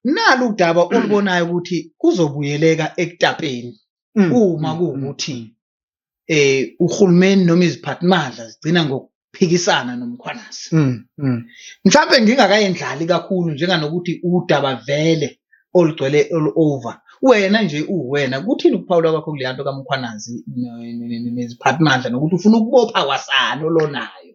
nalu udaba olubonayo ukuthi kuzobuyeleka ekutapeni Mm, uma mm, kuwukuthi eh uhulumeni noma iziphathimandla zigcina ngokuphikisana nomkhwanazi mm, mm. mhlawumbe ngingakayendlali kakhulu njenganokuthi udaba vele olugcwele all over wena nje uwena kuthini ukuphawula kwakho kuleya nto kamkhwanazi ne- ne- ne- neziphathimandla nokuthi ufuna ukubopha kwasani olonayo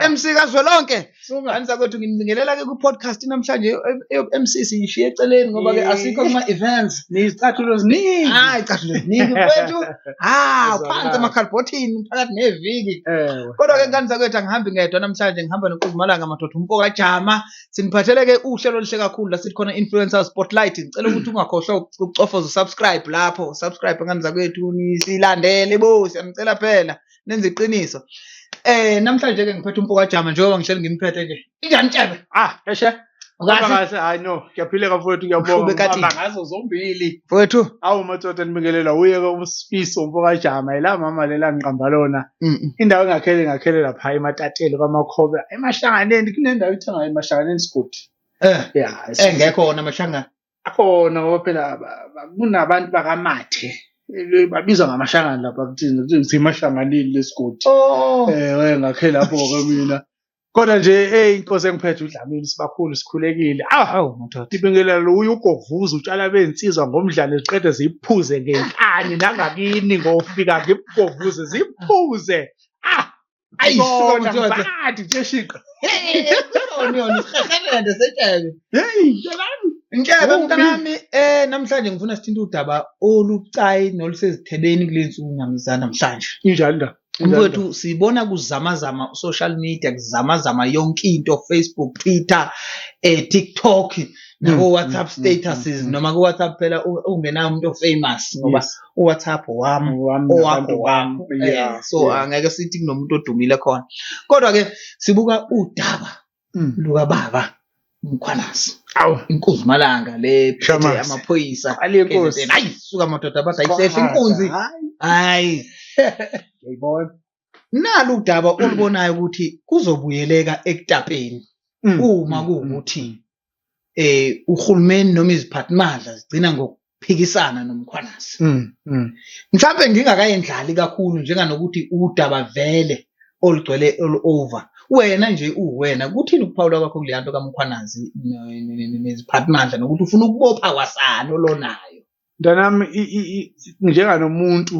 Eh. MC kazwelonke ngani zakwethu nginibingelela ke ku-podcast namhlanje e-MC siyishiye eceleni ngoba ke asikho kuma-events niyizicathulo ziningi hayi icathulo ziningi kwethu hawu phansi emakhalibhothini phakathi neviki kodwa ke ngani zakwethu angihambi ngedwa namhlanje ngihamba noquzumalanga madoda umpoka jama siniphathele ke uhlelo oluhle kakhulu la sithi khona influencer spotlight ngicela ukuthi ungakhohlwa ukucofoza usubscribe lapho subscribe ngani zakwethu nisilandele bo siyanicela phela nenza iqiniso eh namhlanje ke ngiphethe umfo kajama njengoba ngihleli ngimphethe nje injani tshebe ah eshe Kahle hayi no ngiyaphileka mfowethu ngiyabonga ngibamba ngazo zombili mfowethu awu madoda nibingelela uye ke usifiso umfo kajama yila mama lela ngiqamba lona indawo engakhele ngakhele lapha ematatele kwamakhobe emahlanganeni kunendawo ithangayo emahlanganeni sigodi eh yeah engekho wona amashangana akhona ngoba phela ba- ba- kunabantu bakamathe Eh, babizwa ngamashangane lapha kuthina kuthi ngithe mashanganile lesigodi oh eh we ngakhe lapho ke mina kodwa nje hey inkosi engiphethe udlamini sibakhulu sikhulekile ah awu madoda Dibingelela lo uyogovuza utshala bensizwa ngomdlalo ziqede ziphuze ngenkani nangakini ngofika ngimgovuze ziphuze ah Ai, Bona, sona bad, jeshiqa. Onyoni, sihahelende setshebe. Hey, ntalami. Ntshebe Uphi? mntanami eh namhlanje ngifuna sithinta udaba olucayi nolusezithebeni kulensuku namza namhlanje. Injani ndaba? Mfowethu sibona kuzamazama social media kuzamazama yonke into Facebook, Twitter, eh TikTok nako WhatsApp statuses noma ku WhatsApp phela u- ungenayo umuntu ofamous ngoba Yes. uwhatsapp wami Wami owakho nabantu bami. wakho Eh, Yeah, so yeah. angeke sithi kunomuntu odumile khona kodwa ke sibuka udaba Mm. lukababa mkhwanazi Awu. inkunzi malanga le phethe Shamazi. amaphoyisa Aliye nkosi. KZN. hayi suka madoda bathi ayisehle inkunzi Hayi. hayi Yayibona. nalu udaba olubonayo ukuthi kuzobuyeleka ekutapeni Mm, uma mm, kuwukuthi mm, eh uhulumeni noma iziphathimandla zigcina ngokuphikisana nomkhwanasi mm, mm. mhlawumbe ngingakayendlali kakhulu njenganokuthi udaba vele olugcwele all over wena nje uwena kuthini ukuphawula kwakho kuleya nto kamkhwanazi ne- ne- ne- neziphathimandla nokuthi ufuna ukubopha kwasani olonayo mntanami njenganomuntu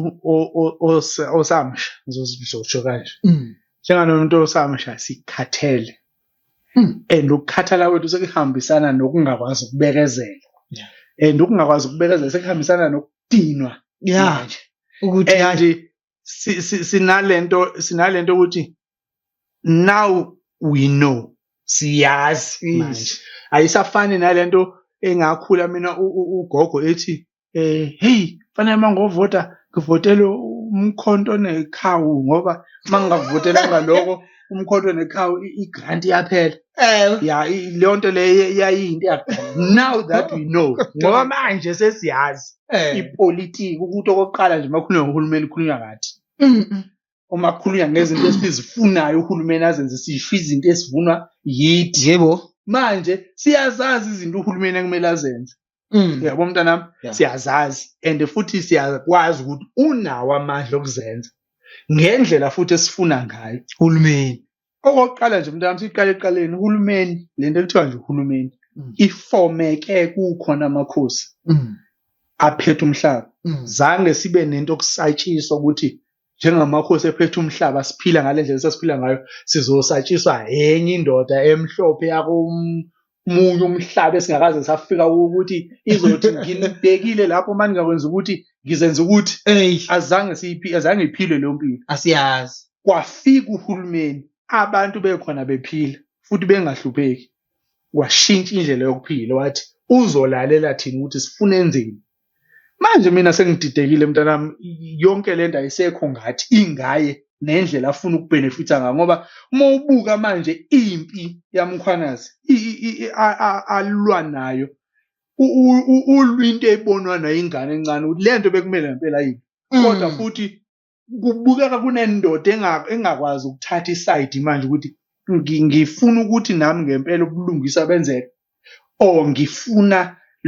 osamsha ngizosho kanje mm. njenganomuntu osamsha sikhathele mm. and ukukhathala kwethu sekuhambisana nokungakwazi ukubekezela and ukungakwazi ukubekezela sekuhambisana nokudinwa ya ukuthi and sinalento sinalento ukuthi now we know siyazi manje ayisafani nalento engakhula mina ugogo ethi eh hey fanele mangovota ngivotele umkhonto nekhawu ngoba mangingavotela ngaloko umkhonto neqhawe igrant iyaphela ewe ya i- leyo nto leyo yayiyinto yakuphela now that we know ngoba manje sesiyazi Eh. ipolitiki ukuthi okokuqala nje makhulunywa ngohulumeni khulunywa ngathi Mm, mm. uma kukhulunywa ngezinto esizifunayo uhulumeni azenze sisho izinto esivunwa yithi yebo manje siyazazi izinto uhulumeni ekumele azenze Mm. Yabo mntanami yeah. siyazazi and futhi siyakwazi ukuthi unawo amandla okuzenza ngendlela futhi esifuna ngayo uhulumeni. Okokuqala nje mntanami siqale eqaleni uhulumeni lento ekuthiwa nje uhulumeni mm. ifomeke kukhona amakhosi mm. aphethe umhlaba mm. zange sibe nento okusatshiswa ukuthi njengamakhosi ephethe umhlaba siphila ngale ndlela esasiphila ngayo sizosatshiswa enye indoda emhlophe yakomunye umhlaba esingakaze safika ukuthi izothi nginibhekile lapho uma ningakwenza ukuthi ngizenza ukuthi azange siyiphi azange iphile leyo mpilo asiyazi kwafika uhulumeni abantu bekhona bephila futhi bengahlupheki washintsha indlela yokuphila wathi uzolalela thina ukuthi sifune enzeni manje mina sengididekile mntanami yonke le nto ayisekho ngathi ingaye nendlela afuna ukubhenefitha ngayo ngoba uma ubuka manje impi yamkhwanazi alwa nayo ulwinto ebonwa nayingane encane ukuthi le nto bekumele ngempela yini mm. kodwa futhi kubukeka kunendoda engakwazi ukuthatha isayidi manje ukuthi ngifuna ukuthi nami ngempela ubulungisa benzeke or ngifuna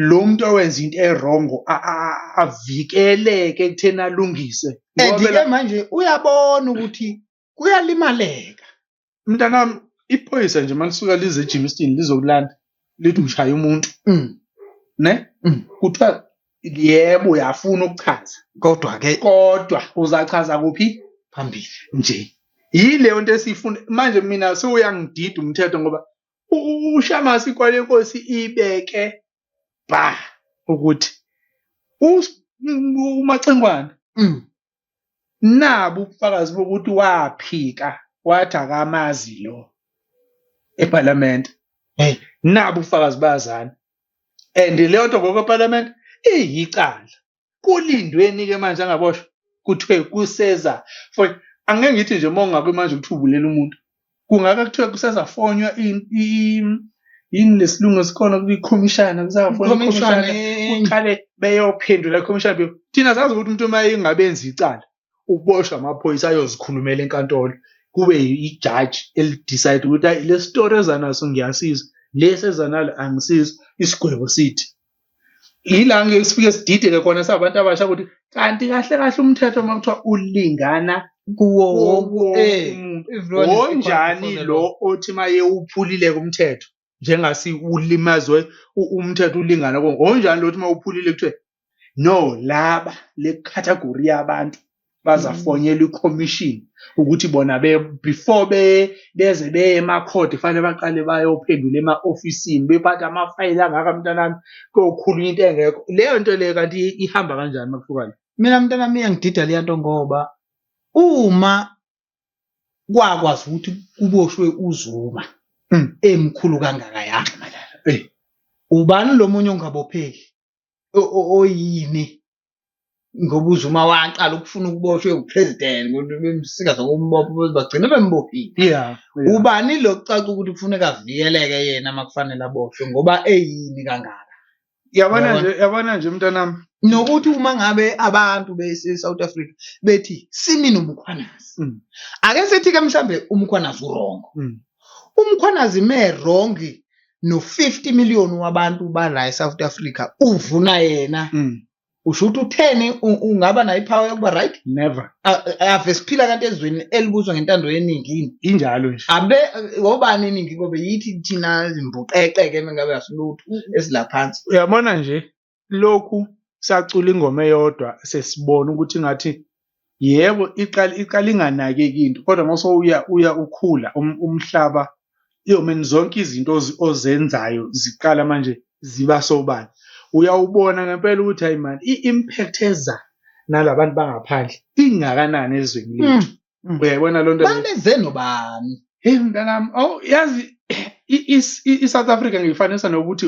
lo muntu owenza into erongo avikeleke ekutheni alungise and-ke manje uyabona ukuthi kuyalimaleka mntanami iphoyisa nje malisuka lize ejimisini lizokulanda lithi ushaya umuntu Mm. ne Mm. kuthiwa yebo uyafuna ukuchaza kodwa ke kodwa uzachaza kuphi phambili nje yileyo nto esiyifuna manje mina sewuyangidida umthetho ngoba u- u- ushamasi kwale nkosi ibeke ba ukuthi us- u- umacingwane Mm. nabu ubufakazi bokuthi waphika wathi akamazi lo eParliament hey nabu ubufakazi bazana and leyo nto ngokweParliament iyicala kulindweni ke manje angaboshwa kuthiwe kuseza for angeke ngithi nje uma ungakwi manje ukuthi ubulela umuntu kungaka kuthiwa kusazafonywa yini lesilungu esikhona kuba ikhomishana kusafonywa ikhomishana kuqale beyophendula ikhomishana thina sazi ukuthi umuntu uma engabenzi icala uboshwa amaphoyisa ayozikhulumela enkantolo kube ijaji elidecide ukuthi hayi lesitori ezanaso ngiyasiza lesi ezanalo angisizi isigwebo sithi yila ngeke sifike sidideke khona sabantu abasha ukuthi kanti kahle kahle umthetho uma kuthiwa ulingana kuwo wonke eh, umuntu everyone is equal wonjani before the lo law. othi maye uphulile kumthetho njengasi ulimazwe u- umthetho ulingana konke wonjani lo othi uma uphulile kuthiwe no laba le category yabantu bazafonyela i-commission ukuthi bona be before be beze beye emakhodi fanele baqale bayophendula ema-ofisini bephathe amafayili angaka mntanami kokhulu into engekho leyo nto leyo kanti ihamba kanjani makuhlukane mina mntanami iyangidida leya nto ngoba uma kwakwazi ukuthi kuboshwe uzuma Mm. emkhulu kangaka yami ubani lo munye ongabopheki oyini ngoba uzuma waqala ukufuna ukuboshwa ewupresident bemsika zokumbopha bagcine bembophile yeah, yeah. ubani lo kucaca ukuthi kufuneka avikeleke yena uma kufanele aboshwe ngoba eyini kangaka yabona nje yabona nje mntanami nokuthi uma ngabe abantu bese-south africa bethi simi nomkhwanazi mm. ake sithi-ke mhlawumbe umkhwanazi urongo mm. umkhwanazi me-rongi no-50 million wabantu bala eSouth Africa uvuna yena mm. usho ukuthi utheni ungaba nayo ipower yokuba right never ave siphila kanti ezweni elibuzwa ngentando yeningi yini injalo nje abe wobani iningi kobe yithi thina zimbuqeqeke mengabe asilutho esilaphansi uyabona nje lokhu sacula ingoma eyodwa sesibona ukuthi ngathi yebo iqala iqala inganakeki into kodwa mase uya uya ukhula um, umhlaba iyomeni zonke izinto ozenzayo ziqala manje ziba sobala uyawubona ngempela ukuthi hayi mani i-impact eza nalabantu bangaphandle ingakanani ezweni hmm. lethu hmm. uyayibona loo nto baleze nobani hey mntanami oh yazi i-south africa ngiyifanisa nokuthi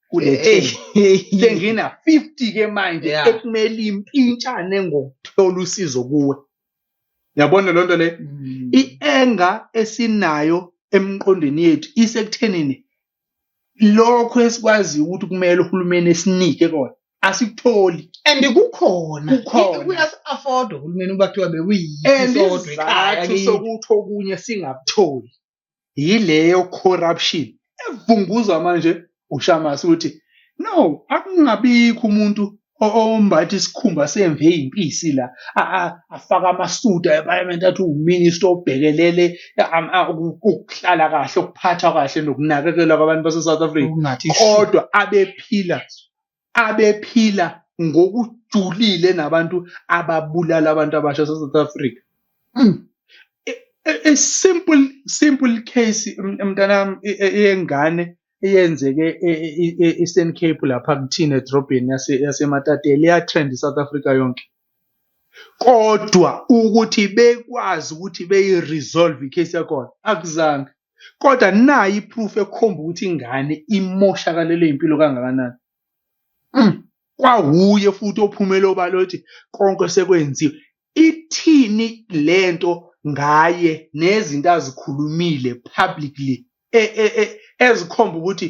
kule team sengina 50 ke manje Yeah. ekumele impintshane ngokuthola usizo kuwe yabona lonto le Mm. ienga esinayo emqondweni yethu isekuthenini lokho esikwazi ukuthi kumele uhulumeni esinike kona asikutholi and kukhona Kukhona. kuyas afford uhulumeni uba kuthiwa and bekuyisodwa ekhaya isizathu kithi. sokuthi okunye singakutholi yileyo corruption evunguzwa manje ushamasi ukuthi no akungabikho umuntu ombatha isikhumba semve eyimpisi la afaka amasuda eparliament athi uwuminister obhekelele ukuhlala kahle ukuphathwa kahle nokunakekelwa kwabantu base-south africa kodwa abephila abephila ngokujulile nabantu ababulala abantu abasha South Africa mm. a, a, a simple simple case mntanami e, e, eyengane eyenzeke e-Eastern Cape lapha kuthina edrobheni yaseMatatele yatrend iSouth Africa yonke kodwa ukuthi bekwazi ukuthi beyi-resolve i-case yakhona akuzange kodwa nayo i-proof ekhomba ukuthi ingane imoshakalelwe impilo kangakanani mm. kwawuye futhi ophumele obala ukuthi konke sekwenziwe ithini lento ngaye nezinto azikhulumile publicly e, e, e, ezikhomba ukuthi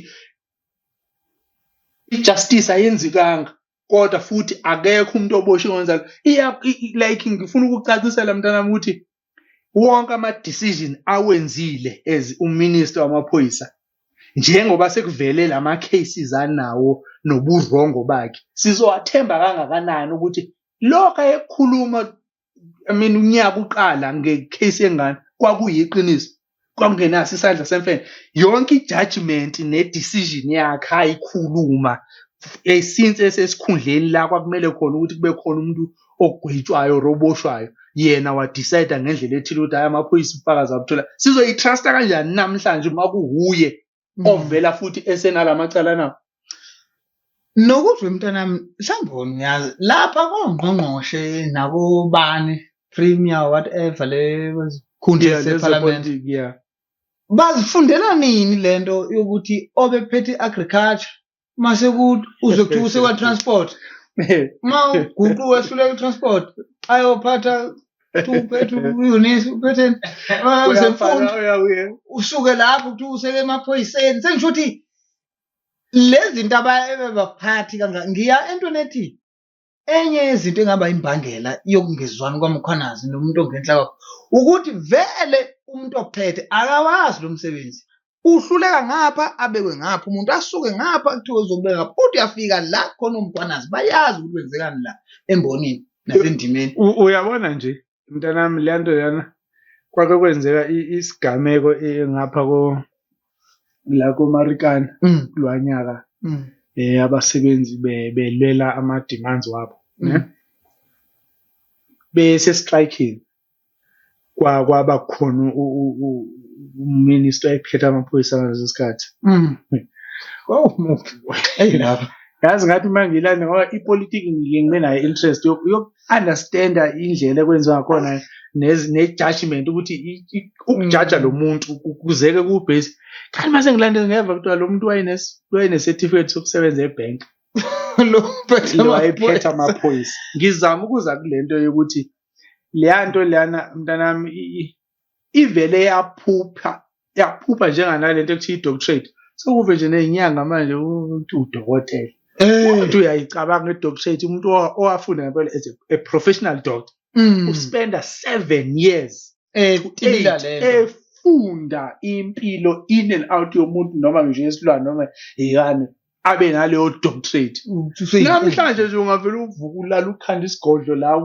ijustice ayenzikanga kodwa futhi akekho umuntu oboshe kwenza like ngifuna ukucacisela mntanami ukuthi wonke ama decision awenzile as uminister wamaphoyisa njengoba sekuvele lama cases anawo nobuvrongo bakhe sizowathemba kangakanani ukuthi lokho ayekhuluma I mean unyaka uqala ngecase yengane kwakuyiqiniso kwakungenaso isandla semfene yonke i-judgment ne-decision yakhe ayikhuluma eh, since esesikhundleni la kwakumele khona ukuthi kube khona umuntu ogwetshwayo or oboshwayo yena wadecide ngendlela ethile ukuthi hayi amaphoyisa ubufakazi abuthola sizoyi-trusta kanjani namhlanje uma kuwuye mm. ovela futhi esenalamacala na nokuzwe mntanami mhlawumbe ngiyazi lapha kongqongqoshe nakobani premier whatever le khundla yeah, separliament yeah bazifundela nini lento yokuthi obephethe agriculture mase uzwe kuthiwa usekwa-transport uma uguqu wehluleka i-transport ayophatha uphethe uyonisa uphethe zemfundo usuke lapho kuthiwa useke emaphoyiseni sengisho ukuthi lezi zinto abaphathi kangaka ngiya entweni ethi enye yezinto engaba imbangela yokungezwani kwaMkhwanazi nomuntu ongenhla kwakhe ukuthi vele umuntu ophethe akawazi lo msebenzi uhluleka ngapha abekwe ngapha umuntu asuke ngapha kuthiwa uzobeka ngapha uthi uyafika la khona umkhwanazi bayazi ukuthi kwenzekani la embonini nasendimeni uyabona nje mntanami le nto yana kwake kwenzeka isigameko ngapha ko la komarikana mm. kulo nyaka mm. eh abasebenzi belwela ama demands wabo mm. ne bese striking kwa kwaba khona uminister ephethe amaphoyisa ngaleso sikhathi oh mufi hey lapha yazi ngathi uma ngilana ngoba ipolitiki ngike ngibe nayo interest understanda indlela ekwenziwa ngakhona ne-judgment ukuthi ukujaja mm. lo muntu kuzeke kubhesi kanti mase ngilandela ngeva kuthiwa lo muntu wayenesertificate sokusebenza ebhenki lo wayephethe amaphoyisa ngizama ukuza kule nto yokuthi leya nto leyana mntanami ivele yaphupha yaphupha njenganalento ekuthiwa i-doctorate sekuve nje nezinyanga manje ukuthi udokotela umuntu eh. uyayicabanga i-doctorate umuntu owafunda ngempela as a professional doctor mm. uspenda seven years eh, efunda impilo in and out yomuntu noma ngisho yesilwane noma yikani abe naleyo doctorate namhlanje nje ungavele uvuka ulala ukhanda isigodlo la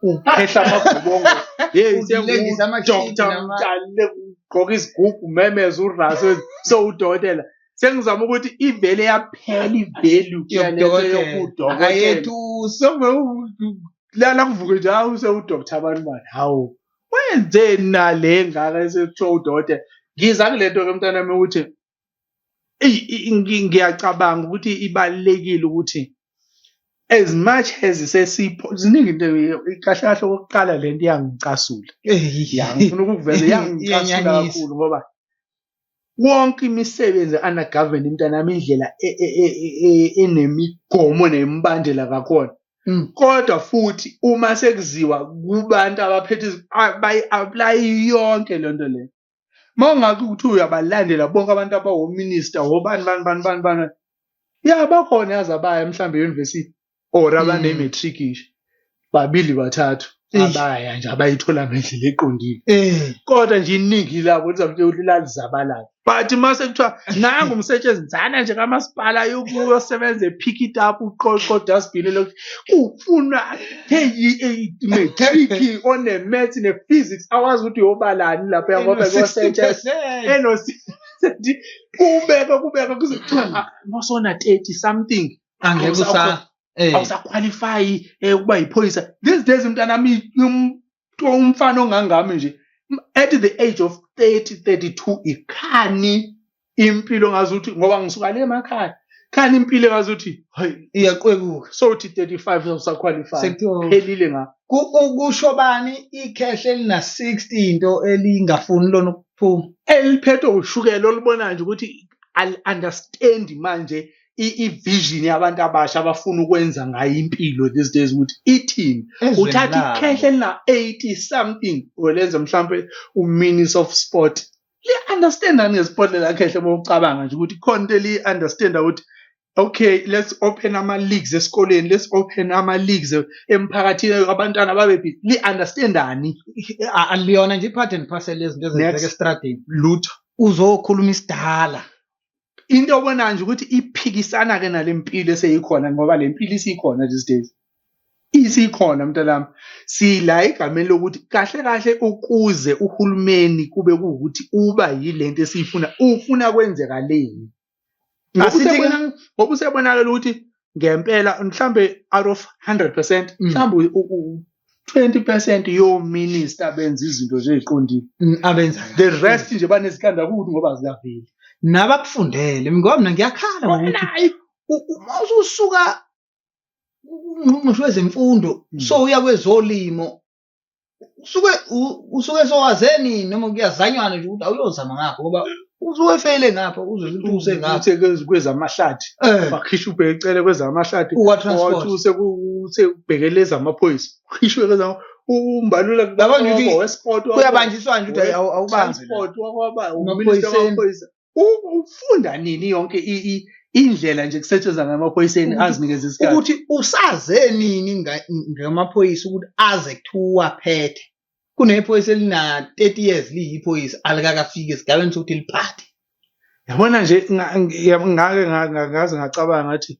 uphehla amagobongo hey sengudoktar mdale ugqoka izigugu memeza uraso so udokotela sengizama ukuthi ivele yaphela ivalue yokudokotela kuvuke nje hawu sewudoktar abantu bani hawu wenzeni nale ngaka esekuthiwa udokotela ngiza kule nto ke mntanami ukuthi ngiyacabanga ukuthi ibalekile ukuthi as much as sesipho ziningi into kahle kahle okokuqala le nto iyangicasula yangifuna ukukuveza iyangicasula kakhulu ngoba wonke imisebenzi ana government mntanami indlela e, e, e, enemigomo nemibandela kakhona mm. kodwa futhi uma sekuziwa kubantu abaphethe bayi-aplayi yonke loo nto leyo mawungathi ukuthi uyabalandela bonke abantu abawominista wobani bani bani bani bani ya bakhona yazi abaya mhlawumbe e-university or abane-matric mm. nje babili bathathu abaya nje abayithola ngendlela eqondile eh. kodwa nje iningi labo lizamtshela ukuthi lalizabalala but mase kuthiwa nangu umsetshenzana nje kamasipala yokuyosebenza epick it up uqoqo dustbin kufunwa matric one-math ne-physics awazi ukuthi yobalani lapho yangoba kosetshs enosethi kubeka kubeka kuze kuthiwa ah, nosona 30 something angeke usa eh. awusakhwalifayi um eh, ukuba yiphoyisa these days mntanami kuthiwa umfana ongangami nje at the age of 30 32 ikhani impilo ngazi ukuthi ngoba ngisuka le emakhaya khani impilo ngazi ukuthi hayi iyaqwekuka so uthi 35 usaqualify Sekuthiwa- phelile nga Ku- u- kusho bani ikhehle elina 60 into elingafuni lona ukuphuma eliphethwe ushukela olibona nje ukuthi al understand manje i-vision yabantu abasha abafuna ukwenza ngayo impilo these days ukuthi ithini uthatha ikhehle la 80 something olenza mhlambe uminis of sport li-understanda ngesport lelakhehla uma ucabanga nje ukuthi khona into eliyi-understanda ukuthi okay let's open ama-leagues esikoleni let's open ama-leagues emphakathini abantwana babe li-understandani aliyona nje i-part and parcel yezinto ezenzeka esitradini lutho uzokhuluma isidala into obona nje ukuthi iphikisana ke nalempilo eseyikhona ngoba lempilo isikhona these days isikhona mntanami sila egameni lokuthi kahle kahle ukuze uhulumeni kube ukuthi uba yilento esiyifuna ufuna kwenzeka leni ngoba usebonakala ukuthi ngempela mhlambe out of 100% mm. mhlambe u 20% yo minister benza izinto nje eziqondile mm, abenza the rest nje banesikanda ukuthi ngoba ziyaveli nabakufundele ngoba mina ngiyakhala ngokuthi uma usuka ungqongqoshe wezemfundo mm. so uya kwezolimo usuke u- usuke sowazeni noma kuyazanywana nje ukuthi awuyozama ngapho ngoba usuke efeyile ngapho uzozwa ukuthi use ngapho uthe kwez- kwezamahlathi Eh, wakhisha ubheke ecele kwezamahlathi Uwa transport. wathi use ku- uthe ubhekele ezamaphoyisa ukhishwe kwezama umbalula Yabona ukuthi wesport kuyabanjiswana nje ukuthi awu- awubanzi la. transport wakwaba uminister Emaphoyiseni. wamaphoyisa ufunda nini yonke indlela nje kusetshenzwa ngamaphoyiseni azinikeza isikhathi ukuthi usaze nini ngamaphoyisa ukuthi aze kuthiwa phethe kunephoyisa elina 30 years liyiphoyisa alikakafiki esigabeni sokuthi liphathe yabona nje ngake ngaze ngacabanga ngathi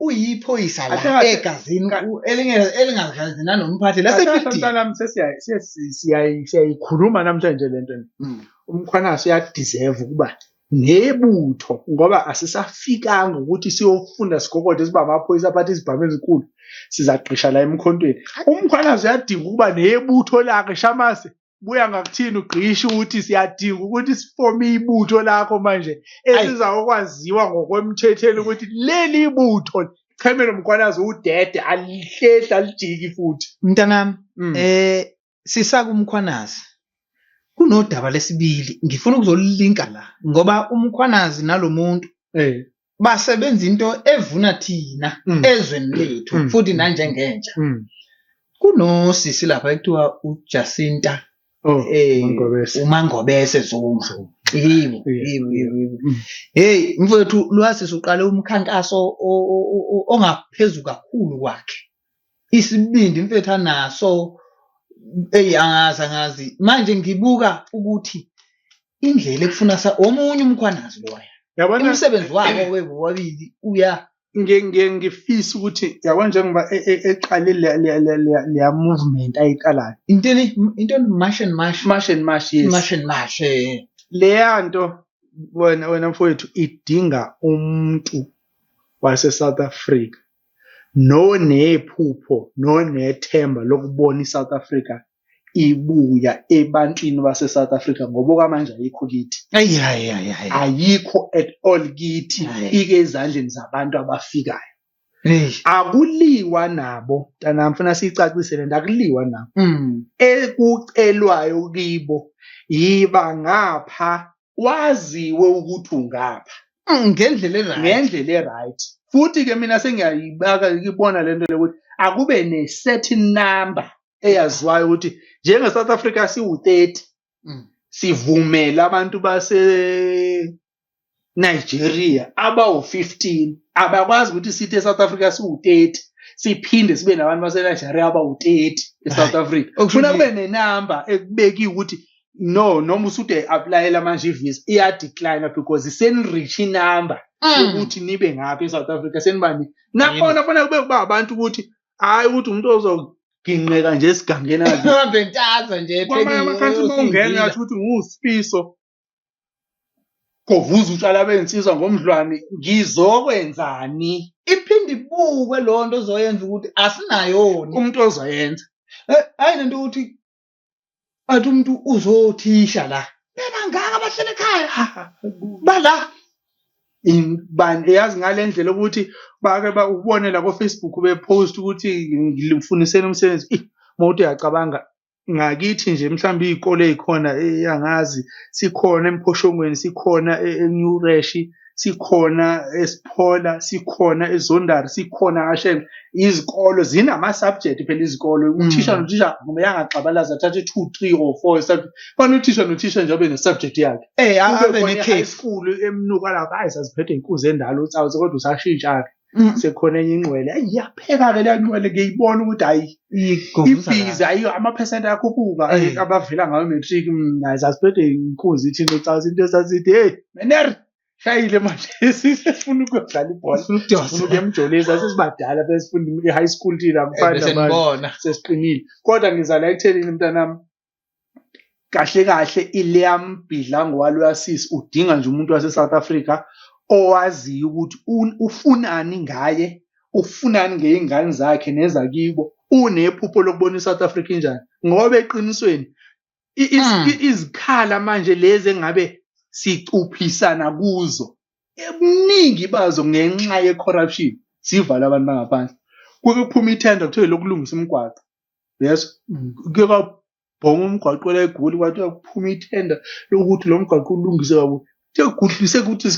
uyiphoyisa la Athe- egazini ka- u- elinge- elingazazi nanomphathi Athatha lasebidini mntanami sesiyayi- siye- si- siyayi- siyayikhuluma namhlanje le nto Mm. umkhwanaso uyadeserve ukuba nebutho ngoba asisafikanga ukuthi siyofunda sigogode siba amaphoyisa aphathe izibhamu ezinkulu sizaqisha la emkhontweni umkhwanaso uyadinga ukuba nebutho lakhe shamase buya ngakuthini ugqisha ukuthi siyadinga ukuthi sifome ibutho lakho manje esiza okwaziwa ngokwemthetheni ukuthi leli ibutho chemelo mkhwanazi udede alihlehla alijiki futhi mntanami mm. eh sisaka umkhwanazi kunodaba lesibili ngifuna ukuzolilinka la ngoba umkhwanazi nalomuntu eh basebenza into evuna thina Mm. ezweni lethu Mm. futhi nanjengentsha Mm. kunosisi lapha ekuthiwa uJacinta Oh, eh Mangobese. uMangobese Zuma Zuma. yibo Yeah. yibo yibo yibo. Mm. hey mfowethu lwasisi uqale umkhankaso o- o- o- o- ongaphezulu kakhulu kwakhe isibindi mfethu anaso eyi angazi angazi manje ngibuka ukuthi indlela ekufuna sa omunye umkhwanazi loya yabona umsebenzi wabo webo wabili uya nge- nge- ngifisa ukuthi yabona njengoba e- e- eqale le- le- le- le- leya movement ayiqalayo intoni intoni mash and mash mash and mash yes mash and mash eh. leya nto wena wena mfowethu idinga umuntu wase-south africa nonephupho nonethemba lokubona iSouth Africa ibuya ebantwini baseSouth Africa ngoba okwamanje ayikho kithi ayikho at all kithi ike ezandleni zabantu abafikayo akuliwa nabo mntanami funa siyicacise le nto akuliwa nabo mm. ekucelwayo kibo yiba ngapha waziwe ukuthi ungapha mm, ngendlela eright ngendlela eright futhi ke mina sengiyayibaka ibona lento lokuthi akube ne certain number eyaziwayo ukuthi njenge South Africa siwu-30 mm. sivumela abantu base Nigeria abawu-15 abakwazi ukuthi sithi eSouth Africa siwu-30 siphinde sibe nabantu baseNigeria abawu-30 eSouth Africa kufuna kube nenamba ekubekiwe ukuthi no noma usude applyela manje ivisa iya decline because senirich inumber mm. ukuthi nibe ngapha eSouth Africa senibani nakhona fanele kube kuba abantu ukuthi hayi ukuthi umuntu ozoginqeka nje esigangeni ahambe ntaza nje kwamanye amakhansi uma ungena yathi ukuthi ngusifiso kovuza utshwala bensizwa ngomdlwane ngizokwenzani iphinde ibukwe lonto ozoyenza ukuthi asinayoni umuntu ozoyenza eh, hayi lento ukuthi bathi umuntu uzothisha la bebangaka bahlele ekhaya ah, ah, bala bani eyazi ngale ndlela ukuthi bake ubone la ko-facebook bepost ukuthi ngimfuniseni umsebenzi mawuthi uyacabanga ngakithi nje mhlawumbe iy'kole ey'khona eyangazi sikhona emphoshongweni sikhona e-new reshi sikhona esiphola sikhona ezondari sikhona kashe izikolo zinama-subject phela izikolo mm. uthisha nothisha kumele angaxabalazi athathe two three or four fana uthisha nothisha nje abe ne-subject yakhe eh, abe ne-high school emnuka lapho ayi saziphethe inkuzi endala utsawuthi kodwa usashintsha-ke Mm. sekhona enye ingqwele ayi iyapheka-ke leya ngqwele ngiyibona ukuthi hayi Igovuza la. ibhizi ayiyo amaphesenti akhuphuka Eh. eh, abavela ngayo matric mm, hayi sasiphethe inkunzi ithini ucaza into esasithi hey mener shayile manje sifuna ukuyodlala ibhola Ufuna ukujosa. sifuna ukuya emjoleni sasesibadala besifunda i-high school thina Eh, mfana bese manje nibona. sesiqinile kodwa ngizala ekuthenini mntanami kahle kahle iLiam Bidlango waloyasis udinga nje umuntu wase South Africa owaziyo ukuthi ufunani ngaye ufunani ngeyingane zakhe nezakibo unephupho lokubona iSouth Africa injani ngoba eqinisweni hmm. izikhala manje lezi engabe sicuphisana kuzo ebuningi bazo ngenxa ye-corruption sivala abantu bangaphandle kuke kuphuma ithenda kuthiwe lokulungisa umgwaqo yes mm. kuke kwabhonga umgwaqo la egoli kwathi kuphuma ithenda lokuthi lo mgwaqo ulungise kakuthi sekugudlise ukuthi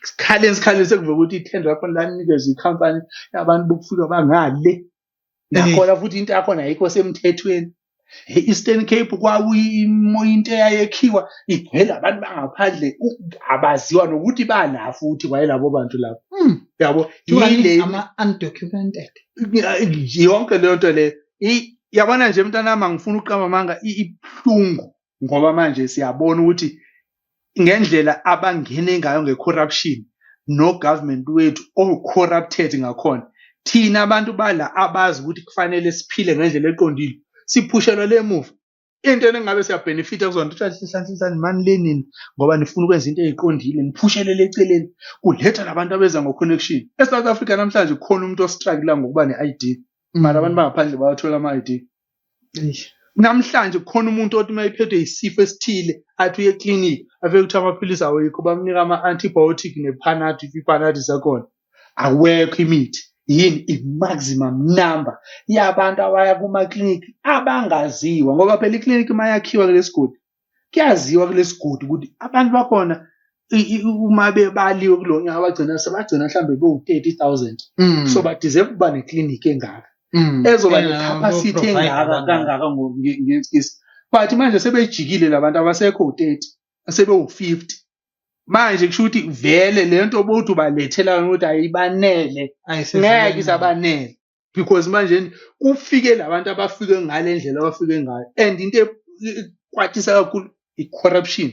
sikhaleni sikhaleni sekuvele ukuthi ithenda lakhona lanikezwa ikhampani yabantu bokufika bangale nakhona eh. futhi into yakhona ayikho semthethweni e-eastern cape kwakuyimoya into eyayekhiwa igcwele abantu bangaphandle abaziwa nokuthi bana futhi kwayelabo bantu lapho hmm. yabo yile ama-undocumented yonke leyo nto le yabona nje mntanami angifuni ukuqamba amanga ibuhlungu ngoba manje siyabona ukuthi ngendlela abangene ngayo nge-corruption no-government wethu o-corrupted ngakhona thina abantu bala abazi ukuthi kufanele siphile ngendlela eqondile siphushelwa le muva into eningabe siyabenefitha kuzona ukuthi hlanhlanhlani mani lenini ngoba nifuna ukwenza into eyiqondile niphushelele eceleni kuletha labantu abeza ngo-connection e-south africa namhlanje kukhona umuntu ostrugula ngokuba ne-id mara abantu bangaphandle bawathola ama-id namhlanje kukhona umuntu othi uma ephethwe yisifo esithile athi uye ekliniki afike kuthiwa amaphilisi awekho bamnika ama-antibiotic nephanathi iphanathi zakhona awekho imithi yini i-maximum number yabantu abaya kumaklinikhi abangaziwa ngoba phela iklinikhi uma yakhiwa kulesigodi kuyaziwa kulesigodi ukuthi abantu bakhona uma bebaliwe kulo nyaka bagcina sebagcina mhlawumbe bewu-thirty thousand mm. so badeserve ukuba neklinikhi engaka mm. ezoba necapacity engaka kangaka ngesikisi but manje sebejikile labantu abasekho u-thirty asebewu-fifty manje kusho ukuthi vele le nto obowuthi ubalethela yona ukuthi ayibanele ngeke isabanele because manje kufike labantu abafike ngale ndlela abafike ngayo and into e- e- ekwatisa kakhulu i-corruption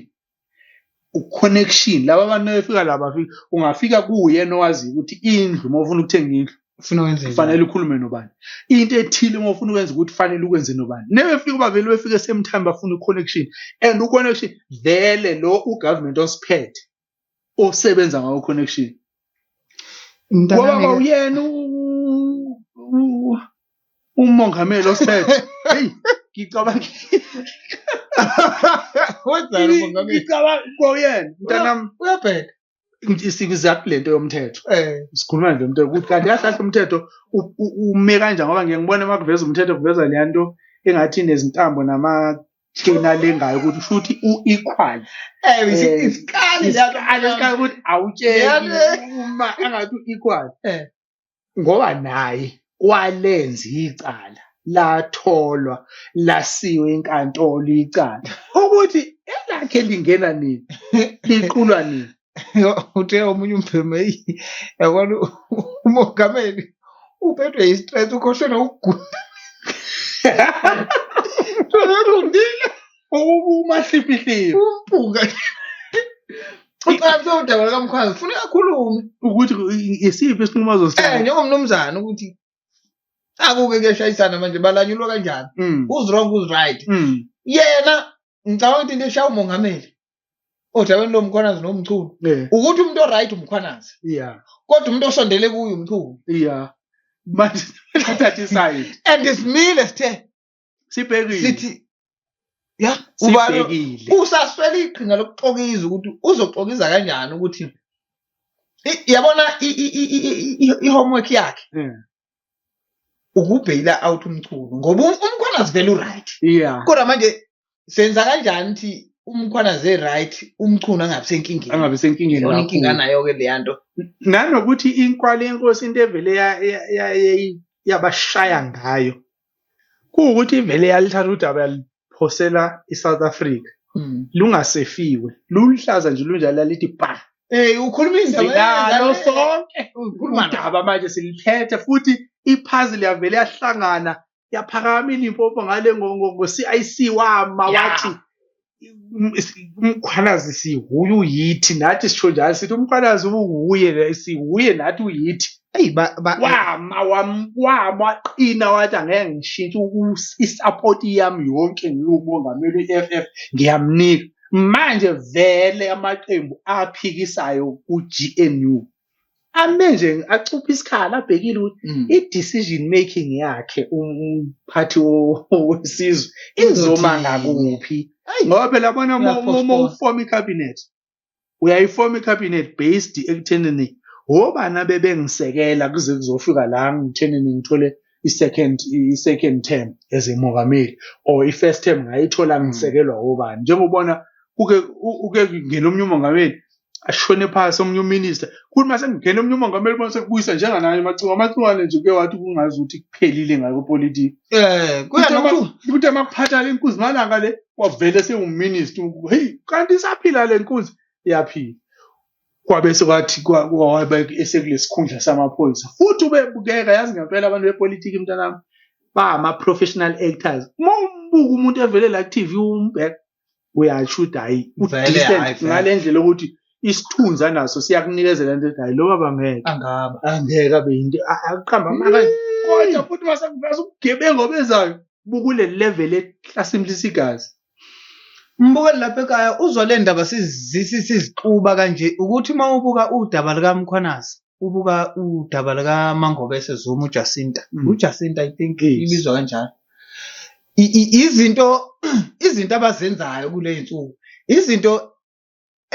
u-connection laba abantu befika la bafika ungafika kuye nowaziyo ukuthi indlu uma ufuna ukuthenga indlu ufuna wenze kufanele ukhulume nobani into ethile uma ufuna ukwenza ukuthi fanele ukwenze nobani nebefika ubavele befike same time bafuna i-connection and u-connection vele lo ugovernment osiphethe osebenza ngawo connection ngoba kawuyena umongameli osiphethe heyi ngicabanga wenzani umongameli ngicabanga kuyena mntanami uyabheda siza kulento yomthetho eh sikhuluma nje umthetho ukuthi kanti yahlahla umthetho ume kanjani ngoba ngiye ngibone uma kuveza umthetho kuveza le nto engathi nezintambo nama thina lengayo ukuthi futhi u-equal eh, eh, isikali isikali ukuthi awutsheli uma angathi u-equal eh. ngoba naye walenza icala latholwa lasiwe inkantolo icala ukuthi elakhe lingena nini liqulwa nini uthe omunye umbhemu eyi yabona umongameli uphethwe yistress ukhohlwe nokugula Tolongile. umahliphihliphi umpunga ucela kuthiwa udaba lukamkhwazi funa akhulume ukuthi isiphi isinqumo eh azosithatha njengomnumzane ukuthi akuke kuyashayisana manje balanyulwa kanjani Mm, who's wrong who's right mm, yena ngicabanga ukuthi into eshaya umongameli odabeni lomkhwanazi nomchunu eh, ukuthi umuntu oright umkhwanazi yeah, kodwa umuntu osondele kuyo umchunu yeah. Manje bathatha isayidi and simile sithe sibhekile sithi ya ubani usaswele iqhinga lokuxokiza ukuthi uzoxokiza kanjani ukuthi yabona i-homework yakhe hmm. ukubheyila out umchunu ngoba um, umkhwana sivele uright kodwa manje senza kanjani ukuthi umkhwana ze right umchunu angabi senkingeni angabi senkingeni yona inkinga nayo ke leya nto nanokuthi inkwali yenkosi into evele yabashaya ngayo kuwukuthi ivele yalithatha udaba yaliphosela i-south africa mm. lungasefiwe luluhlaza nje lunjalo lalithi ba Hey ukhuluma indaba sonke ukhuluma indaba manje siliphethe futhi ipuzzle yavele yahlangana yaphakama ilimpopo ngale ngo-CIC wama wathi um- is- umkhwanazi siwuye uyithi nathi sisho njalo sithi umkhwanazi uwuye le- siwuye nathi uyithi eyi ba- ba- wama wam- wama waqina wathi angeke ngishintshe uku- isapoti yami yonke ngiwumongameli we-f f ngiyamnika manje vele amaqembu aphikisayo ku-gnu ame nje acuphe isikhala abhekile ukuthi Mm. i-decision making yakhe umphathi wo- wesizwe izoma Izothi- ngakuphi ngoba phela bona uma- uma uma Uyaphoqwa. ufoma ikhabhinethi uyayifoma ikhabhinethi based ekuthenini wobani abebengisekela kuze kuzofika la ngithenini ngithole i-second i-second term as a mongameli or i-first term ngayithola ngisekelwa wobani njengobona kuke u- uke ngena omunye umongameli ashone phasi omunye uminister kuthi mase ngigena omunye umongameli bonse kubuyisa njenganaye macunga amacungane nje kuke wathi kungazi ukuthi kuphelile ngakho politiki eh kuya lokhu ukuthi amakuphatha le nkunzi malanga le wavele sewuminister hey kanti isaphila le nkunzi iyaphila kwabe sekwathi kwabe esekulesikhundla samaphoyisa futhi ubebukeka yazi ngempela abantu bepolitiki mntanami ba ama professional actors uma umbuka umuntu evele la ku TV umbheka uyasho ukuthi hayi udecent ngale ndlela ukuthi isithunzi anaso siyakunikezela into ethi hayi lo baba ngeke angaba angeke abe yinto akuqamba amaka kodwa futhi masakuveza ubugebengu obezayo bukule level ehlasimlisa igazi Mbukeli lapha ekhaya uzwa le ndaba sizixuba kanje ukuthi uma ubuka udaba lukaMkhwanazi ubuka udaba likaMangobese Zuma uJacinta mm. uJacinta i think ibizwa kanjalo izinto izinto abazenzayo kule nsuku izinto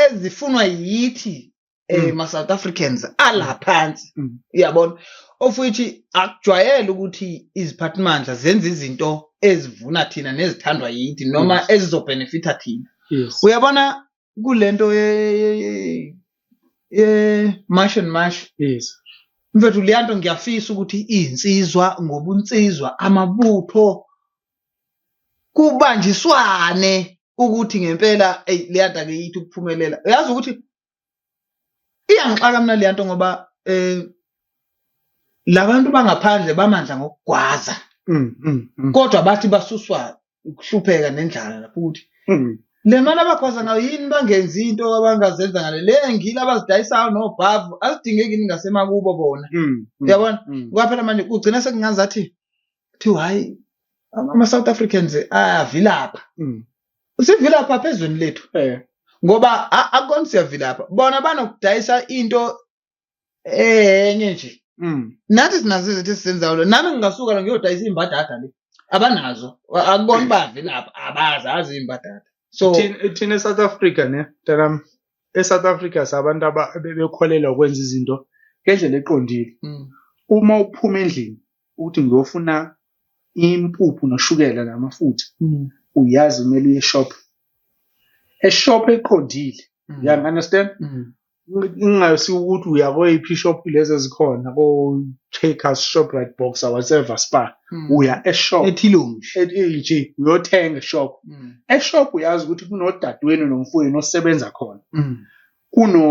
ezifunwa yithi eh mm. ma South Africans ala mm. phansi mm. uyabona ofuthi akujwayele ukuthi iziphathimandla zenza izinto ezivuna thina nezithandwa yithi noma ezizobhenefitha thina uyabona kulento ye ye ye- ye mash and mash yes mfethu leyanto ngiyafisa ukuthi izinsizwa ngobunsizwa amabutho kubanjiswane ukuthi ngempela eyi leyanto akeyithi ukuphumelela uyazi ukuthi iyangixaka mina leyanto ngoba eh labantu bangaphandle bamandla ngokugwaza mm, mm, mm. kodwa bathi basuswa ukuhlupheka nendlala lapho ukuthi mm. le mali abagwaza ngayo yini bangenzi into abangazenza ngale le ngile abazidayisayo nobhavu azidingeki yini ngasemakubo bona mm, mm, uyabona mm, mm. kwaphela manje kugcina sekungazathi kuthiwa hhayi ama-south africans ayavilapha mm. sivilapha apha ezweni lethu eh. ngoba akukona siyavilapha bona banokudayisa into enye nje mm. nathi sinazo izinto esizenzayo lo nami ngingasuka la ngiyodayisa imbadada le abanazo akubona uba avilapha abazazi imbadada so thina esouth africa ne mntanam esouth africa sabantu abebekholelwa ukwenza izinto ngendlela eqondile mm. uma uphuma endlini ukuthi ngiyofuna impuphu noshukela namafutha mm. uyazi kumele uye shop eshop eqondile mm. you understand mm. ingayisi ukuthi uya kweyiphi shop lezi ezikhona ko Checkers Shoprite Boxer whatever Spar mm. uya eshop ethilomshi ethi uyothenga eshop mm. eshop uyazi ukuthi kunodadewenu nomfowenu osebenza khona mm. kuno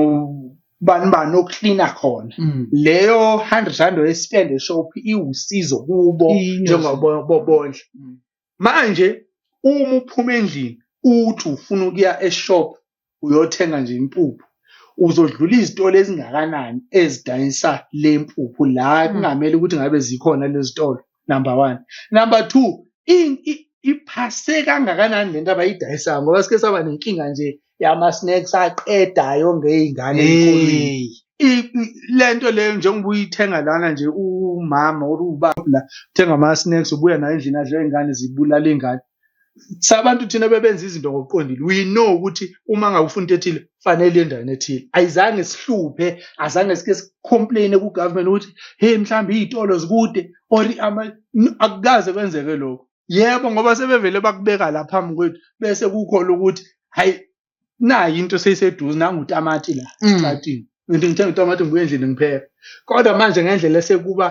bani bani oklina khona Mm. leyo 100 rand oyespende shop iwusizo kubo Iyinyosi. njengoba bobondla Mm. manje uma uphuma endlini uthi ufuna ukuya eshop uyothenga nje impuphu uzodlula izitolo ezingakanani ezidayisa le mpuphu la Mm. kungamele ukuthi ngabe zikhona lezitolo number one number two in- i- iphase kangakanani lento abayidayisayo ngoba sike saba nenkinga nje yama-snacks aqedayo ngey'ngane ey'koleni Hey. I- i- lento leyo njengoba uyithenga lana nje umama or ubaba la uthenga ama-snacks ubuya nayo endlini adle ingane zibulala ingane sabantu thina bebenza izinto ngokuqondile we know ukuthi uma ngabe ufuna into ethile fanele endaweni ethile ayizange sihluphe azange sike sicomplaine kugovernment ukuthi hey mhlawumbe iy'tolo zikude or akukaze kwenzeke lokho yebo ngoba sebevele bakubeka la phambi kwethu bese kukhona ukuthi hayi nayi into seyiseduze nangu utamati la Mm. esikhathini ngithi ngithenga utamati ngibuye endlini ngipheka kodwa manje ngendlela esekuba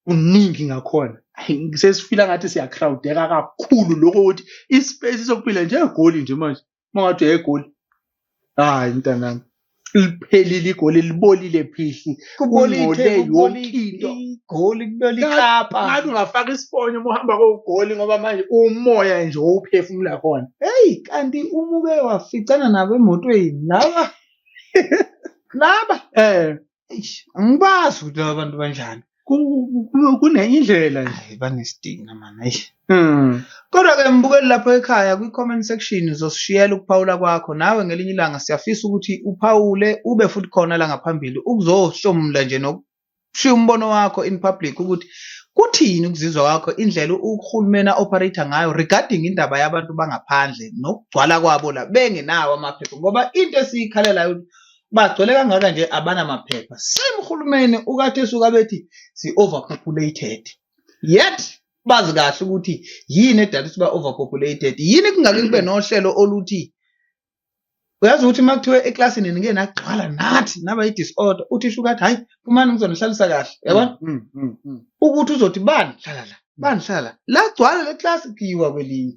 kuningi ngakhona ayi, sesifila ngathi siyacrowdeka kakhulu lokho ukuthi ispace sokuphila nje egoli nje manje mawade egoli hayi mntanami liphelile igoli libolile phihli Kubole ithe, Ungcole yonke kubole into. igoli, kubole Ngathi- ikapa. ngathi ungafaka isifonyo uma uhamba kogoli ngoba manje umoya nje owuphefumula khona Hey, kanti uma uke waficana nabo emotweni laba laba um eish, angibazi ukuthi laba bantu banjani. kunenye indlela nje Hayi banesidina mani eish. Hmm. Kodwa-ke mbukeli lapho ekhaya kwi-comment section uzosishiyela ukuphawula kwakho nawe ngelinye ilanga siyafisa ukuthi uphawule ube futhi khona la ngaphambili ukuzohlomula nje nokushiya umbono wakho in public ukuthi kuthini ukuzizwa kwakho indlela uhulumeni a-operator ngayo regarding indaba yabantu bangaphandle nokugcwala kwabo la bengenawo amaphepha ngoba into esiyikhalelayo bagcwele kangaka nje abanamaphepha same uhulumeni ukade suka bethi si-overpopulated yet bazi kahle ukuthi yini edala siba overpopulated yini kungake kube nohlelo oluthi uyazi ukuthi uma kuthiwa eklasini nike nagcwala nathi naba i-disorder uthi sho ukuthi hhayi phumani ngizonihlalisa kahle yabona mm, mm, mm, ukuthi uzothi bani hlala la bani hlala la lagcwala le klasi kuyiwa kwelinye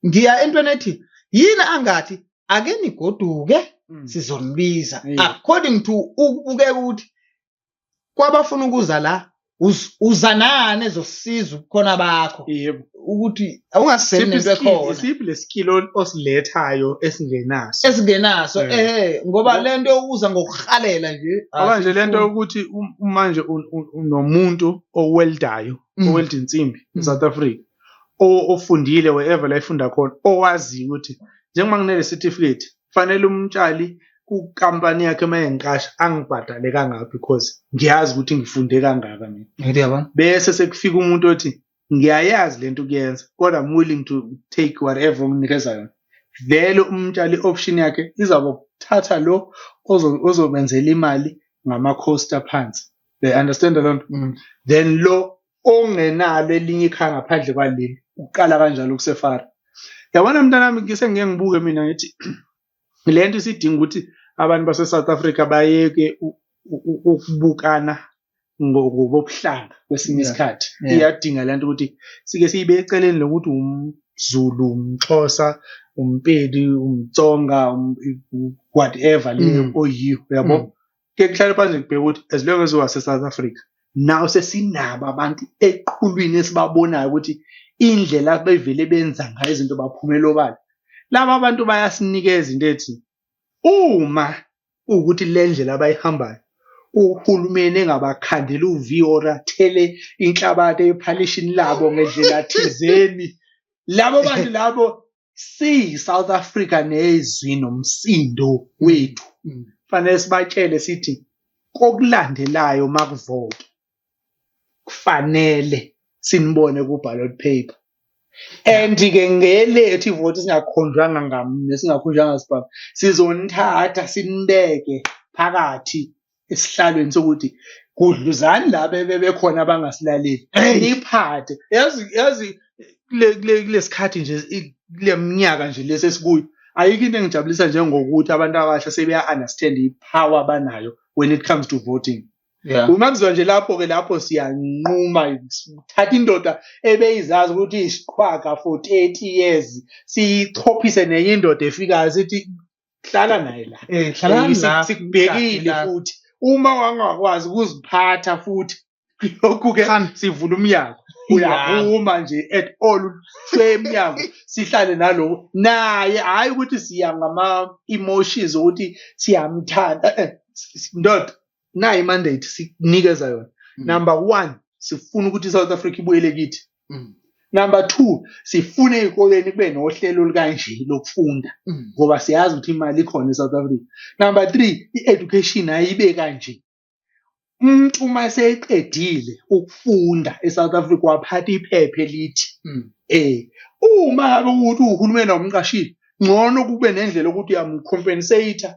ngiya entweni ethi yini angathi ake nigoduke sizonibiza according to ukubukeka ukuthi kwabafuna ukuza la uz- uza nani ezosiza ubukhona bakho yebo ukuthi awungaseli Siphi nento iskill- ekhona siphi lesikilo osilethayo esingenaso esingenaso Eh. ehe ngoba Ngo- lento yokuza ngokuhalela nje ngoba nje lento asifuni. yokuthi um- manje un- un- unomuntu oweldayo Mm. owelda insimbi Mm. eSouth Africa o- ofundile wherever la efunda khona owaziyo ukuthi njengoba nginele certificate kufanele umtshali kukampani yakhe uma engiqasha angibhadale kangaka because ngiyazi ukuthi ngifunde kangaka mina Ngithi yabona? bese sekufika umuntu othi ngiyayazi lento ukuyenza kodwa I'm willing to take whatever onginikeza yona vele umtshali option yakhe izaba ukuthatha lo ozo- ozobenzela imali ngama-cost aphansi they understand loo nto Mm. then lo ongenalo elinye ikhaya ngaphandle kwaleli uqala kanjalo kusefara yabona mntanami ngise ngeke ngibuke mina ngithi le nto isidinga ukuthi abantu base-south africa bayeke ukubukana ngokobuhlanga kwesinye isikhathi iyadinga le nto ukuthi sike siyibe eceleni lokuthi umzulu umxhosa umpedi umtsonga um, whatever leyo mm. oyiyo yabo mm. ke kuhlale phansi ngibheke ukuthi as long as wase South Africa nawo sesinabo abantu eqhulwini esibabonayo ukuthi indlela bevele benza ngayo izinto baphumela obala laba abantu bayasinikeza into ethi uma ukuthi le ndlela abayihambayo uhulumeni engabakhandela uviyo or athele inhlabathi ephalishini labo ngendlela thizeni labo bantu labo siyi South Africa nezwi nomsindo wethu mm. fanele sibatshele sithi kokulandelayo makuvota kufanele sinibone ku ballot paper and ke ngelethu ivoti singakhonjwanga ngamne singakhonjwanga sibaba sizonithatha sinibeke phakathi esihlalweni sokuthi gudluzani la bebekhona abangasilaleli niyiphathe yazi yazi kulesikhathi nje kule minyaka nje lesi esikuyo ayikho into engijabulisa njengokuthi abantu abasha sebeya-understand i-power abanayo when it comes to voting yeah. uma kuzwa nje lapho-ke lapho siyanquma thatha indoda ebeyizazi ukuthi isiqhwaga for 30 years siyichophise nenye indoda efikayo sithi hlala naye la Eh, hlalani Eh, la, sik- sikubhekile la. futhi uma wangakwazi ukuziphatha futhi lokhu ke Khan. sivula umnyango uyaphuma nje at all ushwe emnyango sihlale nalowo naye hhayi ukuthi siya ngama-emotions okuthi siyamthanda Eh, eh, s- s- ndoda nayo imandate sikunikeza yona mm. number one sifuna ukuthi i-south africa ibuyele kithi mm. number two sifune ey'koleni kube nohlelo olukanje lokufunda mm. ngoba siyazi ukuthi imali ikhona e-south africa number three i-education ayibe kanje umuntu uma eseqedile ukufunda e-south africa waphatha iphepha elithi um uma ngabe ukuthi uhulumeni awumqashile ngcono kube nendlela yokuthi uyamcompensate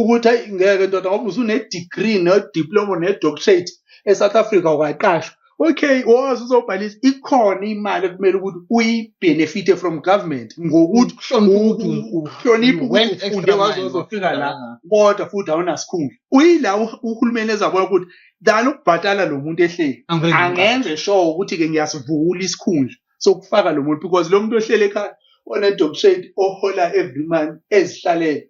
ukuthi ayi ngeke ndoda ngoba usunedegree nediploma nedoctorate esouth africa ungaqashwa okay wazi uzobhalisa ikhona imali ekumele ukuthi uyibenefite from government ngokuthi uhloniphe ukuthi ufunde waze uzofika la kodwa futhi awunasikhundla uyila uhulumeni ezabona ukuthi dala ukubhatala lo muntu ehleli angenze sure ukuthi-ke ngiyasivula isikhundla sokufaka lo muntu because lo muntu ohlele ekhaya onedoctorate ohola every month ezihlalele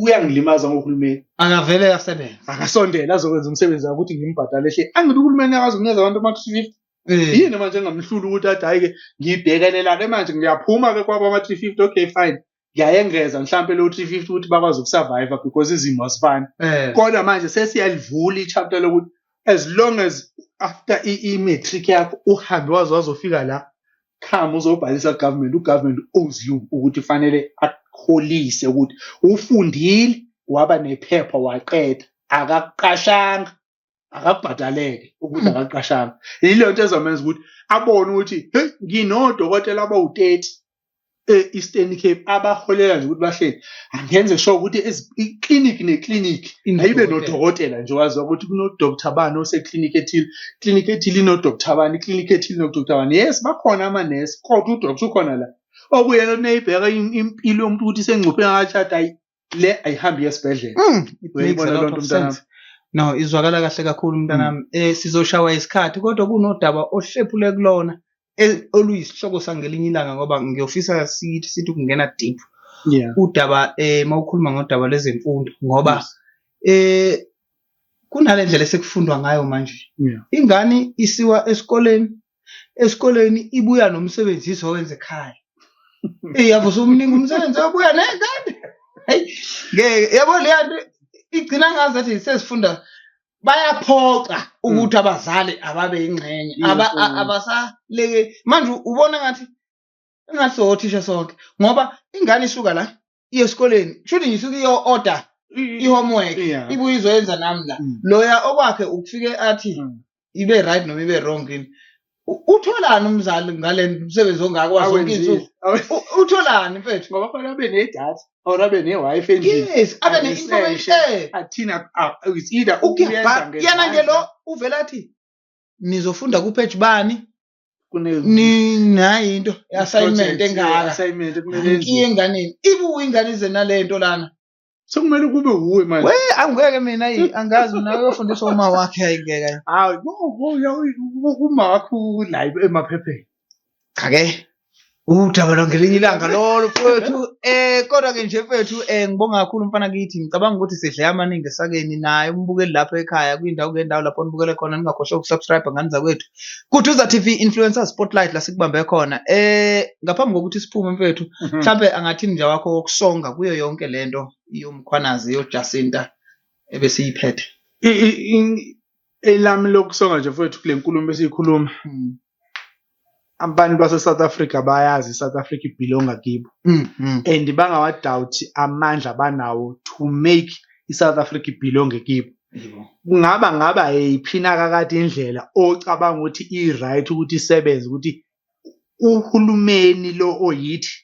uyangilimaza ngohulumeni akavele asebenze akasondele azokwenza umsebenzi wakhe ukuthi ngimbhadale hle angibe uhulumeni akazi ukunikeza abantu ama 350 Eh, yini manje engamhlula ukuthi athi hayi ke ngibhekelelane manje ngiyaphuma ke kwaba ama 350 okay fine ngiyayengeza mhlampe lo 350 ukuthi bakwazi ukusurvive because izimo azifani eh, kodwa manje sesiyalivula ichapter lokuthi as long as after i-matric yakho uhambe waze wazofika la come uzobhalisa government ugovernment owes you ukuthi fanele akholise ukuthi ufundile waba nephepha waqeda akakuqashanga akabhadaleke ukuthi hmm. akaqashanga yilo nto ezomenza ukuthi abone ukuthi hey nginodokotela abawu-30 e-Eastern Cape abaholela nje ukuthi bahleli angenze sure ukuthi iclinic neclinic ayibe nodokotela nje wazi ukuthi kunodoctor bani oseclinic ethile clinic ethile inodoctor bani iclinic ethile inodoctor bani yes bakhona amanesi kodwa udoctor ukhona la okuyena oneyibheka impilo yomuntu ukuthi isengcuphe ngakatshada ayi le ayihambi yesibhedlela Mm, it Uyayibona makes a loo lot nto, of mntanami? sense. no izwakala kahle kakhulu mntanami eh sizoshawa isikhathi kodwa kunodaba ohlephule kulona e- oluyisihloko sangelinye ilanga ngoba ngiyofisa sithi sithi ukungena deep yeah udaba eh mawukhuluma ngodaba lwezemfundo ngoba Yes. eh kunale ndlela esekufundwa ngayo manje yeah ingane isiwa esikoleni esikoleni ibuya nomsebenzi izowenza ekhaya eyi yabo somningi umsebenzi obuya nekade hayi ngeke yabo leya nto igcina ngazi athi sesifunda bayaphoxa ukuthi abazali ababe yingxenye Aba- a- Mm. abasaleke manje ubona ngathi engathi sowothisha sonke ngoba ingane isuka la iye esikoleni kushuthi ngisuke iyo order i-homework Yeah. ibuye izoyenza nami la Mm. loya okwakhe ukufike athi Mm. ibe right noma ibe wrong yini U- utholani umzali ngale msebenzi ongaka wazo zonke Awenzile. izinsuku Awe- U- utholani mfethu ngoba fanele abe nedatha or abe ne-wifi endlini yes abe Abe ne-information eh. athina ah, it's either ukuyenza ukuyabhaka yena nje lo ngezandla. uvela athi nizofunda kupage bani kune ninayo into assignment engaka assignment kumele inkiye enganeni ibuye ingane ize nalento lana sekumele kube wuwe manje we angeke mina yi angazi mina uyofundisa uma wakhe ayingeka hayi uma wakho la emaphepheni okay udaba lwangelinye ilanga lolo mfowethu um kodwa-ke nje mfowethu um ngibonga kakhulu mfana kithi ngicabanga ukuthi sidle amaningi esakeni naye umbukeli lapho ekhaya kwindawo ngendawo lapho nibukele khona ningakhohlwa ukusubscribe ngani zakwethu kuduza t v influencer spotlight la sikubambe khona um ngaphambi kokuthi siphume mfowethu mhm. mhlawumbe angathi mnja wakho wokusonga kuyo yonke le nto yomkhwanazi yojasinta ebesiyiphethe elami lokusonga nje mfowethu kule nkulumo esiyikhuluma hmm. abantu base-south africa bayazi i-south africa ibhilonga kibo hmm, hmm. and bangawadawuthi amandla banawo to make i-south africa ibhilonge kibo kungaba ngaba yiphina kakade indlela ocabanga ukuthi i-right ukuthi isebenze ukuthi uhulumeni lo oyithi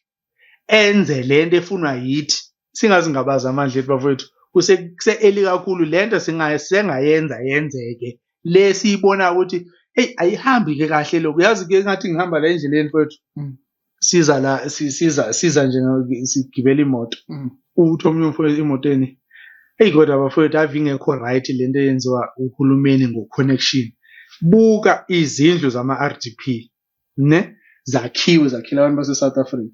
enze lento efunwa yithi singazingabaza amandla ethu bafowethu kuse-eli kakhulu le nto sengayenza yenzeke le siyibona ukuthi eyi ayihambi-ke kahle lokhu yazi-ke ngathi ngihamba la endleleni fowethu mm. siza la siza siza nje sigibela imoto mm. uthi omunye umfowethu emotweni eyi kodwa bafowethu ave ingekho right le nto eyenziwa uhulumeni ngo-connection buka izindlu zama-r d p ne zakhiwe zakhile abantu base South Africa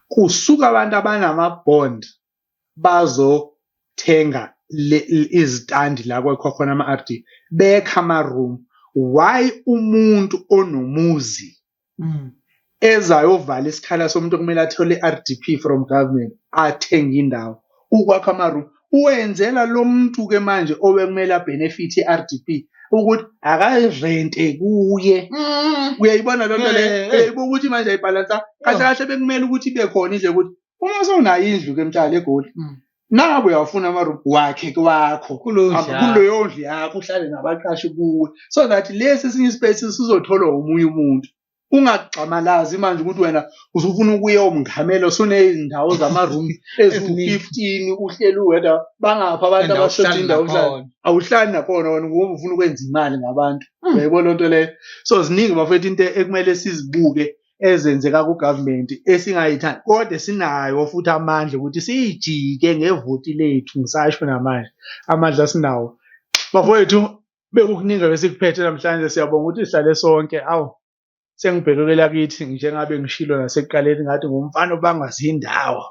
kusuka abantu abanama bond bazothenga izitandi la kwakhokhona ama RD bekha ama room why umuntu onomuzi mm. ezayovala isikhala somuntu okumele athole i-RDP from government athenge indawo ukwakha amaroom uwenzela lo muntu ke manje obekumele abenefit i-rdp ukuthi akarente kuye mm. uyayibona loo nto leyo eh, eh. uyayibuka ukuthi manje ayibhalansa kahle oh. kahle bekumele ukuthi ibe khona indle ukuthi uma sewunayo indlu ke mtshali egoli mm. naku uyawufuna amaroom wakhe kwakho kuleyo ndlu yakho uhlale nabaqashi kuwe so that lesi esinye ispace sizotholwa omunye umuntu ungagxamalazi manje ukuthi wena uzofuna ukuya omngamelo sonezindawo zama-room eziwu-fifteen uhleli uwedwa bangaphi abantu abashoda indawo uhlala awuhlali nakhona wena ngoba ufuna ukwenza imali ngabantu hmm. uyayibona loo nto leyo so ziningi bafethu into ekumele sizibuke ezenzeka kugovernment esingayithandi kodwa sinayo futhi amandla ukuthi siyijike ngevoti lethu ngisasho namanje amandla sinawo bafowethu bekukuningi besikuphethe namhlanje siyabonga ukuthi sihlale sonke awu sengibhekekela kithi njengabe ngishilo nasekuqaleni ngathi ngumfana obangazi indawo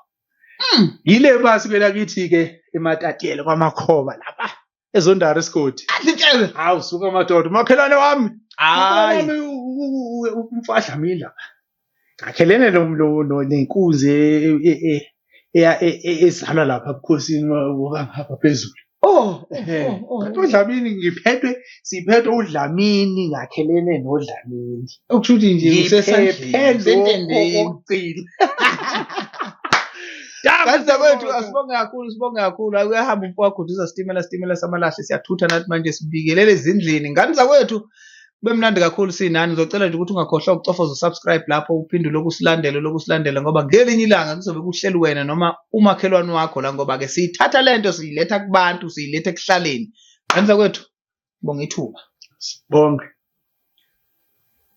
hmm. yile basi kwelakithi-ke ematatiyele kwamakhoba lapha ezondari isigodi adlitshele hawu suka madoda umakhelwane wami hayi umfadlamini lapha akhelene nenkunzi ezalwa lapha bukhosini wokangapha phezulu oh kodwa udlamini ngiphethwe siphethwe udlamini ngakhelene nodlamini okusho ukuthi nje usesandleni Kanti wethu asibonge kakhulu sibonge kakhulu akuyahamba umfowakho uduza sitimela sitimela samalahle siyathutha nathi manje sibingelele ezindlini ngani zakwethu kube mnandi kakhulu sinani ngizocela nje ukuthi ungakhohlwa ukucofoza usubscribe lapho uphinde lokhu usilandele lokhu usilandele ngoba ngelinye ilanga kuzobe kuhleli wena noma umakhelwane wakho la ngoba-ke siyithatha le nto siyiletha kubantu siyiletha ekuhlaleni qanisa kwethu bonga ithuba bonke